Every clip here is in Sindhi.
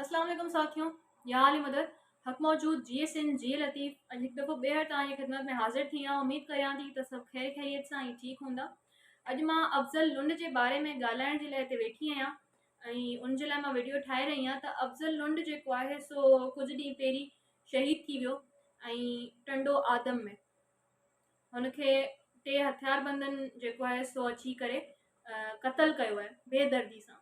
اسلام عليڪم ساٿيو يا علي مدد حق موجود جي ايس ان جي لطيف اڄ هڪ دفعو ٻيهر توهان جي خدمت ۾ حاضر ٿي آهيان اميد ڪريان ٿي ته سڀ خير خيريت سان ۽ ٺيڪ هوندا اڄ مان افضل لنڊ جي باري ۾ ڳالهائڻ جي لاء هتي ويٺي آهيان ۽ ان جي لاء مان ويڊيو ٺاهي رهي آهيان ته افضل لنڊ جيڪو آهي سو ڪجهه ڏينهن پهرين شهيد ٿي ويو ۽ ٽنڊو آدم ۾ هن کي ٽي هٿيار بندن جيڪو آهي سو اچي ڪري قتل ڪيو آهي بي دردي سان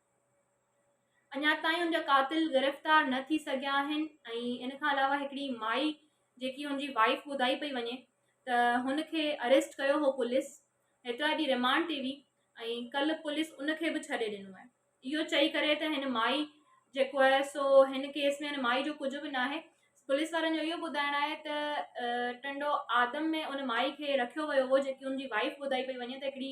اڃا تائين ان جا قاتل گرفتار نه ٿي سگهيا آهن ۽ ان کان علاوه هڪڙي مائي جيڪي هن جي وائيف ٻڌائي پئي وڃي ته هن کي اريسٽ ڪيو هو پوليس هيترا ڏينهن رمانڊ تي هئي ۽ ڪل پوليس ان کي به ڇڏي ڏنو آهي اهو چئي ڪري ته هن مائي جيڪو آهي سو هن ڪيس ۾ هن مائي جو ڪجهه به ناهي پوليس وارن جو اهو ٻڌائڻ آهي ته ٽنڊو آدم ۾ ان مائي کي رکيو ويو هو جيڪي هن جي وائيف ٻڌائي پئي وڃي ته هڪڙي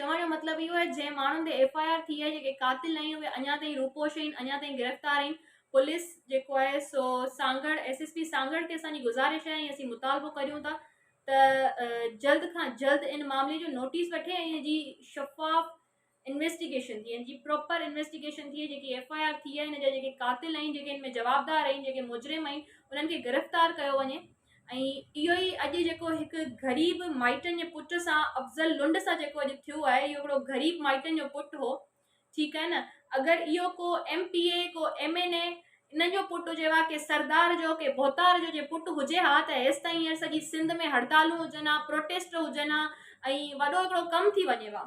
چوڻ جو مطلب اهو آهي جنهن ماڻهن تي ايف آء آر ٿي آهي جيڪي قاتل آهن اهي اڃا تائين روپوش آهن اڃا تائين گرفتار آهن پوليس جيڪو آهي سو Sanghar S S P Sanghar کي اسان جي گذارش آهي ۽ اسين مطالبو ڪريون ٿا ته جلد کان جلد ان معاملي جو نوٽيس وٺي ۽ ان جي شفاف انويسٽيگيشن ٿئي ان جي پراپر انويسٽيگيشن ٿئي جيڪي ايف آء آر ٿي آهي ان جا جيڪي قاتل آهن جيڪي ان ۾ جوابدار آهن جيڪي مجرم آهن انهن کي گرفتار ڪيو وڃي ۽ اهو ئي اڄ جيڪو هڪ غريب مائٽن جي پٽ سان افضل لنڊ سان جيڪو اڄ ٿيو آهي اهو هڪڙو غريب مائٽن جو پٽ هو ٺيڪ آهي نه اگر اهو ڪو ايم پي اي ڪو ايم اين اي انهن جو پٽ هجي ها ڪي سردار جو ڪي ڀوتار جو جي پٽ هجي ها ته هيستائين هينئر سڄي سنڌ ۾ هڙتالون هجن ها پروٽيسٽ هجن ها ۽ وڏو هڪڙو ڪم ٿي وڃي ها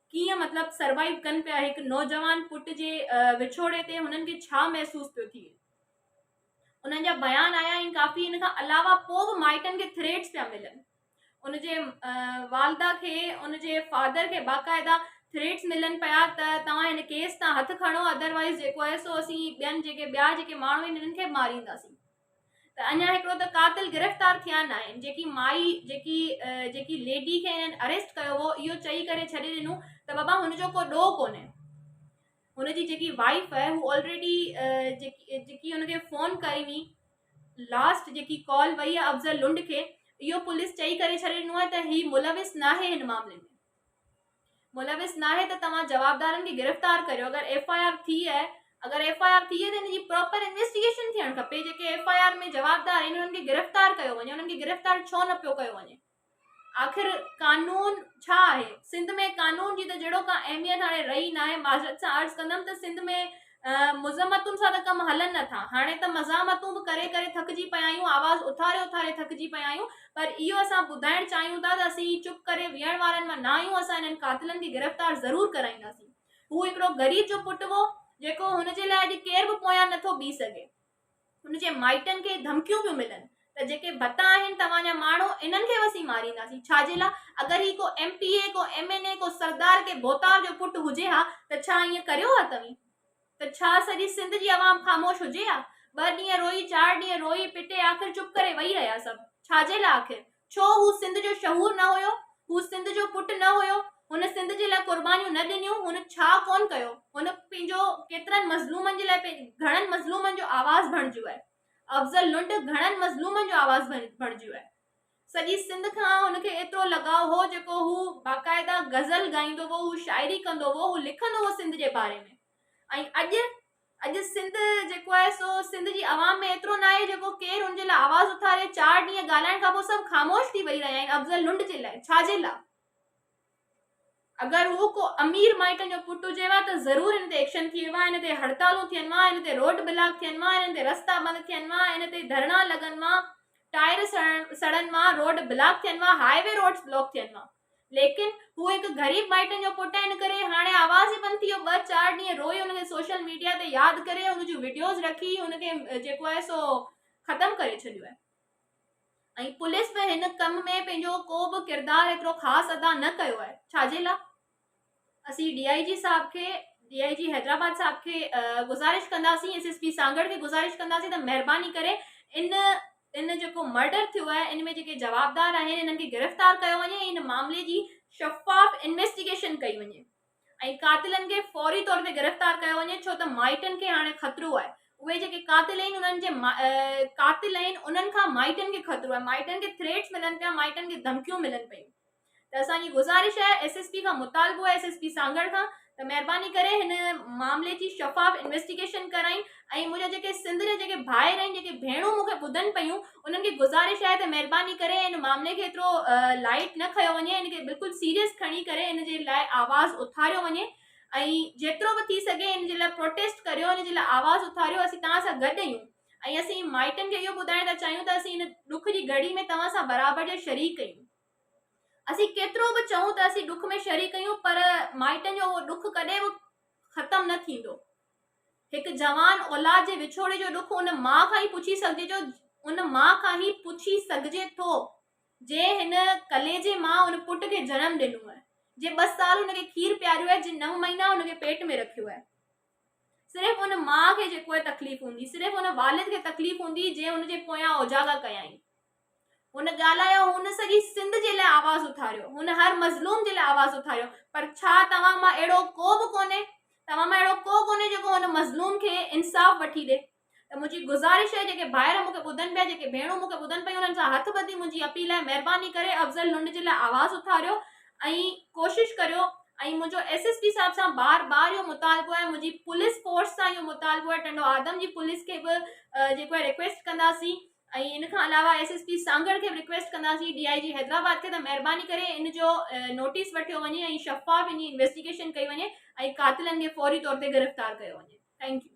ڪيئن مطلب سروائيو ڪن پيا هڪ نوجوان پٽ جي وڇوڙي تي هنن کي ڇا محسوس پيو ٿئي انهن جا بيان آيا آهن ڪافي ان کان علاوه پوء به مائٽن کي ٿريٽس پيا ملن ان جي والده کي ان جي فادر کي باقاعده ٿريٽس ملن پيا ته توهان هن ڪيس تان هٿ کڻو ادروائز جيڪو آهي سو اسين ٻين جيڪي ٻيا جيڪي ماڻهو آهن انهن کي مارينداسين ته اڃا هڪڙو ته قاتل گرفتار ٿيا ناهن جيڪي مائي جيڪي جيڪي ليڊي کي هنن اريسٽ ڪيو هو اهو چئي ڪري ڇڏي ڏنو ته بابا هن جو ڪو ڏوهه ڪونهي هن جي جيڪي وائيف آهي هو آلريڊي جيڪي جيڪي هن کي فون ڪئي هئي لاسٽ جيڪي ڪال وئي افضل لنڊ کي اهو پوليس چئي ڪري ڇڏي ڏنو آهي ته هي ملوث ناهي هن معاملي ۾ ملوث ناهي ته توهان جوابدارن کي گرفتار ڪريو اگر ايف آء آر ٿي آهي اگر ايف آء آر ٿي آهي ته ان جي پراپر انويسٽيگيشن ٿيڻ کپي جيڪي ايف آء آر ۾ جوابدار آهن انهن کي گرفتار ڪيو وڃي انهن کي گرفتار ڇو نه پيو ڪيو وڃي آخر قانون ڇا آهي سنڌ ۾ قانون جي ته جهڙو ڪا اهميت هاڻي رهي ناهي معذرت سان عرض ڪندم ته سنڌ ۾ مذمتن سان ته ڪم هلن نه ٿا. هاڻي ته مزاحمتون به ڪري ڪري ٿڪجي پيا آهيون، آواز اٿاري اٿاري ٿڪجي پيا آهيون، پر اهو اسان ٻڌائڻ چاهيون ٿا ته اسين چپ ڪري ويهڻ وارن مان نه آهيون، اسان انهن قاتلن کي گرفتار ضرور ڪرائينداسين. هو هڪڙو غريب جو پٽ هو، جيڪو هن جي لاء اڄ ڪير به پويان نه ٿو بيهي سگهي. هن جي مائٽن کي ڌمڪيون پيون ملن ته جيڪي ڀتا آهن توهان جا ماڻهو انهن کي به اسين مارينداسين ڇا جي لا اگر هي ڪو ايم پي اي ڪو ايم اين اي ڪو سردار ڪي ڀوتار جو پٽ هجي ها ته ڇا ائين ڪريو ها توهين ته ڇا سڄي سنڌ جي عوام خاموش هجي ها ٻه ڏينهن روئي چار ڏينهن روئي پٽي آخر چپ ڪري وئي رهيا سڀ ڇا جي لا آخر ڇو هو سنڌ جو شهور نه هيو؟ هو سنڌ جو پٽ نه هيو؟ هن سنڌ جي لاء قربانيون نه ڏنيون؟ هن ڇا ڪونه ڪيو؟ هن پنهنجو ڪيترن مظلومن جي لاء گهڻن مظلومن جو آواز بڻجيو آهي. افضل لنڊ گهڻن مظلومن جو آواز بڻجيو آهي. سڄي سنڌ کان هن کي ايترو لڳاء هو جيڪو هو باقاعده غزل ڳائيندو هو، هو شاعري ڪندو هو، هو لکندو هو سنڌ جي باري ۾. ۽ اڄ اڄ سنڌ جيڪو آهي سو سنڌ جي عوام ۾ ايترو نه آهي جيڪو ڪير ان جي لاء آواز اٿاري چار ڏينهن ڳالهائڻ کان پوء سڀ خاموش ٿي ويهي رهيا آهن افضل لنڊ جي لاء ڇا جي لاء اگر هو ڪو امير مائٽن جو پٽ هجي ها ته ضرور ان تي ايڪشن ٿي ها ان تي هڙتالون ٿين ها ان تي روڊ بلاڪ ٿين ها ان تي رستا بند ٿين ها ان تي ڌرڻا لڳن ها ٽائر سڙن ها روڊ بلاڪ ٿين ها هاء وي روڊ بلاڪ ٿين ها ليڪن هو هڪ غريب مائٽن جو پٽ آهي ان ڪري هاڻي آواز ئي بند ٿي ويو ٻه چار ڏينهن روئي ان کي سوشل ميڊيا تي ياد ڪري ان جون ويڊيوز رکي ان کي جيڪو آهي سو ختم ڪري ڇڏيو آهي ۽ پوليس به هن ڪم ۾ پنهنجو ڪو به ڪردار ايترو خاص ادا نه ڪيو آهي ڇاجي لاء اسين ڊي آء جي صاحب کي ڊي آء جي حيدرآباد صاحب کي گذارش ڪنداسين ايس ايس پي سانگهڙ کي گذارش ڪنداسين ته مهرباني ڪري ان ان جيڪو مرڊر ٿيو آهي ان ۾ جيڪي جوابدار آهن انهن کي گرفتار ڪيو وڃي ۽ ان معاملي جي شفاف انويسٽيگيشن ڪئي وڃي ۽ قاتلن کي فوري طور تي گرفتار ڪيو وڃي ڇو ته مائٽن کي هاڻي خطرو آهي اهي جيڪي قاتل آهن انهن جي قاتل آهن انهن کان مائٽن کي خطرو آهي مائٽن کي ٿريٽس ملن پيا مائٽن کي ڌمڪيون ملن پيون ته اسان جي گذارش آهي ايس ايس پي کان مطالبو آهي ايس ايس پي سانگهڙ کان ته مهرباني ڪري هن معاملي جي شفاف انويسٽيگيشن ڪرائين ۽ منهنجا جيڪي سنڌ جا جيڪي ڀائر آهن جيڪي ڀيڻون مونکي ٻڌن پيون انهن کي گذارش آهي ته مهرباني ڪري هن معاملي کي ايترو لائيٽ نه کنيو وڃي هن کي بلڪل سيريس کڻي ڪري هن جي لاء آواز اٿاريو وڃي ۽ جيترو به ٿي سگهي هن جي لاء پروٽيسٽ ڪريو هن جي لاء آواز اٿاريو اسين توهان سان گڏ آهيون ۽ اسين مائٽن کي اهو ٻڌائڻ ٿا چاهيون ته اسين هن ڏک جي گهڙي ۾ توهان سان برابر جا شريڪ آهيون اسين ڪيترو به چئون ته اسين ڏک ۾ شريڪ اهيون پر مائٽن جو اهو ڏک ڪڏهن به ختم نه ٿيندو. هڪ جوان اولاد جي وڇوڙي جو ڏک ان ماء کان ئي پڇي سگهجي جو ان ماء کان ئي پڇي سگهجي ٿو جنهن هن ڪليجي مان ان پٽ کي جنم ڏنو آهي جنهن ٻه سال هن کي کير پياريو آهي جنهن نو مهينا هن کي پيٽ ۾ رکيو آهي صرف ان ماء کي جيڪو تڪليف هوندي صرف ان والد کي تڪليف هوندي جنهن هن جي پويان اوجاڳا ڪيائين هن ڳالهايو، هن سڄي سنڌ جي لاء آواز اٿاريو، هن هر مظلوم جي لاء آواز اٿاريو، پر ڇا توهان مان اهڙو ڪو به ڪونهي، توهان مان اهڙو ڪو ڪونهي جيڪو هن مظلوم کي انصاف وٺي ڏي؟ ته منهنجي گذارش آهي جيڪي ڀائر مون کي ٻڌن پيا، جيڪي ڀيڻون مون کي ٻڌن پيون انهن سان هٿ ٻڌي منهنجي اپيل آهي مهرباني ڪري افضل لنڊ جي لاء آواز اٿاريو ۽ ڪوشش ڪريو ۽ منهنجو ايس ايس پي صاحب سان بار بار اهو مطالبو آهي منهنجي پوليس فورس سان اهو مطالبو آهي ٽنڊو آدم جي پوليس کي به جيڪو آهي ريڪويسٽ ڪنداسين ۽ ان کان علاوه ايس ايس پي سانگهڙ کي به رڪويسٽ ڪنداسين ڊي آئي جي حيدرآباد کي ته مهرباني ڪري ان جو نوٽيس وٺيو وڃي ۽ شفاف ان جي انويسٽيگيشن ڪئي وڃي ۽ قاتلن کي فوري طور تي گرفتار ڪيو وڃي ٿينڪ يو